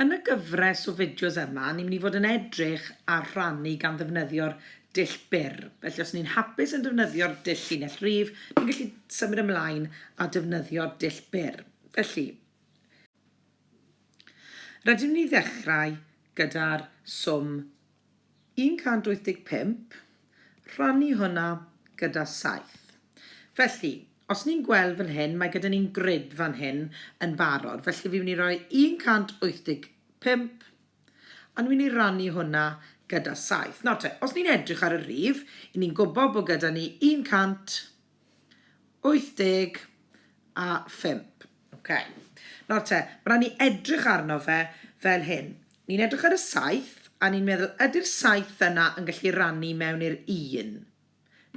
Yn y gyfres o fideos yma, ni'n mynd i fod yn edrych ar rhannu gan ddefnyddio'r dull byr. Felly os ni'n hapus yn defnyddio'r dull llinell rif, ni'n gallu symud ymlaen a defnyddio'r dull byr. Felly, rydym ni ddechrau gyda'r swm 185, rhannu hwnna gyda 7. Felly, os ni'n gweld fan hyn, mae gyda ni'n grid fan hyn yn barod. Felly, fi'n mynd i roi 185, a ni'n mynd i rannu hwnna gyda 7. Nawr te, os ni'n edrych ar y rif, 'yn ni'n gwybod bod gyda ni 100, 85. Ok. Nawr te, ma' raid ni edrych arno fe fel hyn. Ni'n edrych ar y saith, a ni'n meddwl, ydy'r saith yna yn gallu rannu mewn i'r un?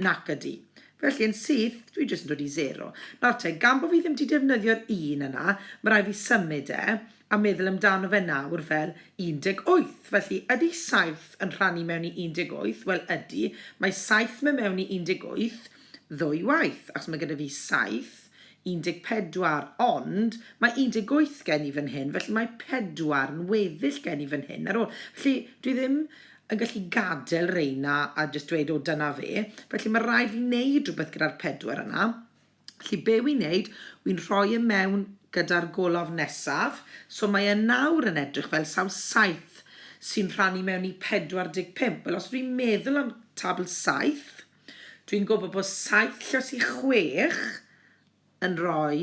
Nac ydy. Felly, yn syth, dwi jyst yn dod i sero. Nawr te, gan bo' fi ddim 'di defnyddio'r un yna, ma' raid fi symud e, a meddwl amdano fe nawr fel 18, felly ydy 7 yn rhannu mewn i 18? Wel ydy, mae 7 me mewn i 18 ddwy waith, achos mae gyda fi 7, 14, ond mae 18 gen i fan hyn, felly mae 4 yn weddill gen i fan hyn ar ôl. Felly, dwi ddim yn gallu gadael reina a jyst dweud, o, dyna fe. Felly, mae rhaid fi wneud rhywbeth gyda'r 4 yna. Felly be wi'n neud, wi'n rhoi e mewn gyda'r golofn nesaf, so mae e nawr yn edrych fel sawl saith sy'n rhannu mewn i 45. Wel, os dwi'n meddwl am tabl saith, dwi'n gwybod bod saith lles i chwech yn rhoi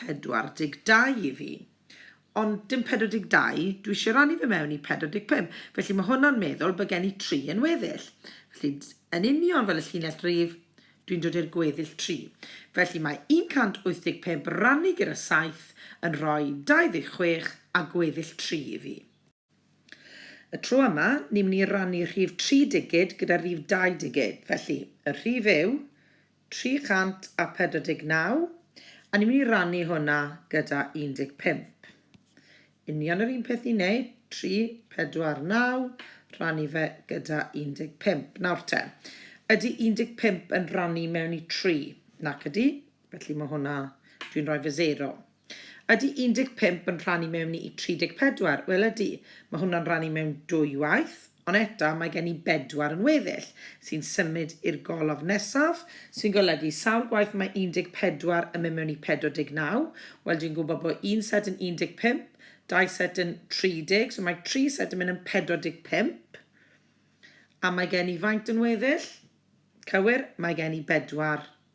42 i fi. Ond dim 42, dwi eisiau rannu fe mewn i 45, felly mae hwnna'n meddwl bod gen i tri yn weddill. Felly, yn union fel y llinell rif, dwi'n dod i'r gweddill tri. Felly mae 185 rannu gyda 7 yn rhoi 26 a gweddill tri i fi. Y tro yma, ni'n mynd i rannu rhif tri digid gyda rhif dau digid, felly y rhif yw 349, a ni'n mynd i rannu hwnna gyda 15. Union yr un peth i wneud, 349, rannu fe gyda 15. Nawr te, ydy 15 yn rannu mewn i 3? Nac ydy, felly mae hwnna, dwi'n rhoi fy 0. Ydy 15 yn rhan i mewn i 34? Wel ydy, mae hwnna'n rhan i mewn dwy waith, ond eto mae gen i bedwar yn weddill, sy'n symud i'r golofn nesaf, sy'n golygu sawl gwaith mae 14 yn mynd mewn i 49, wel dwi'n gwybod bod un set yn 15, dau set yn 30, so mae tri set yn mynd yn 45, a mae gen i faint yn weddill? Cywir, mae gen i bedwar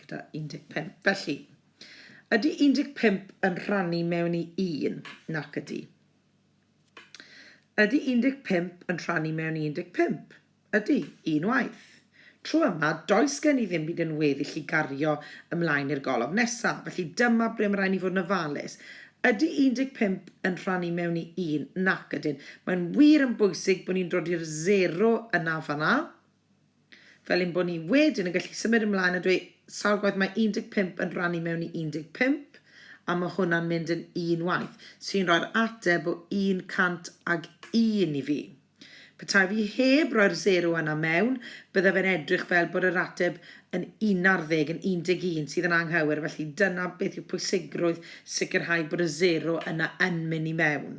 gyda 15. Felly, ydy 15 yn rhannu mewn i 1? Nac ydy. Ydy 15 yn rhannu mewn i 15? Ydy, un waith. Tro yma, does gen i ddim byd yn weddill i gario ymlaen i'r golofn nesaf, felly dyma ble mae rhaid ni fod yn ofalus. Ydy 15 yn rhannu mewn i 1? Nac ydyn. Mae'n wir yn bwysig bod ni'n dod i'r 0 yna fanna. Fel ein bod ni wedyn yn gallu symud ymlaen a dweud sawl gwaith mae 15 yn rhannu mewn i 15, a mae hwnna'n mynd yn un waith, sy'n rhoi'r ateb o 101 i fi. Petai fi heb roi'r sero yna mewn, byddai fe'n edrych fel bod yr ateb yn unarddeg, yn 11, sydd yn anghywir, felly dyna beth yw pwysigrwydd sicrhau bod y sero yna yn mynd i mewn.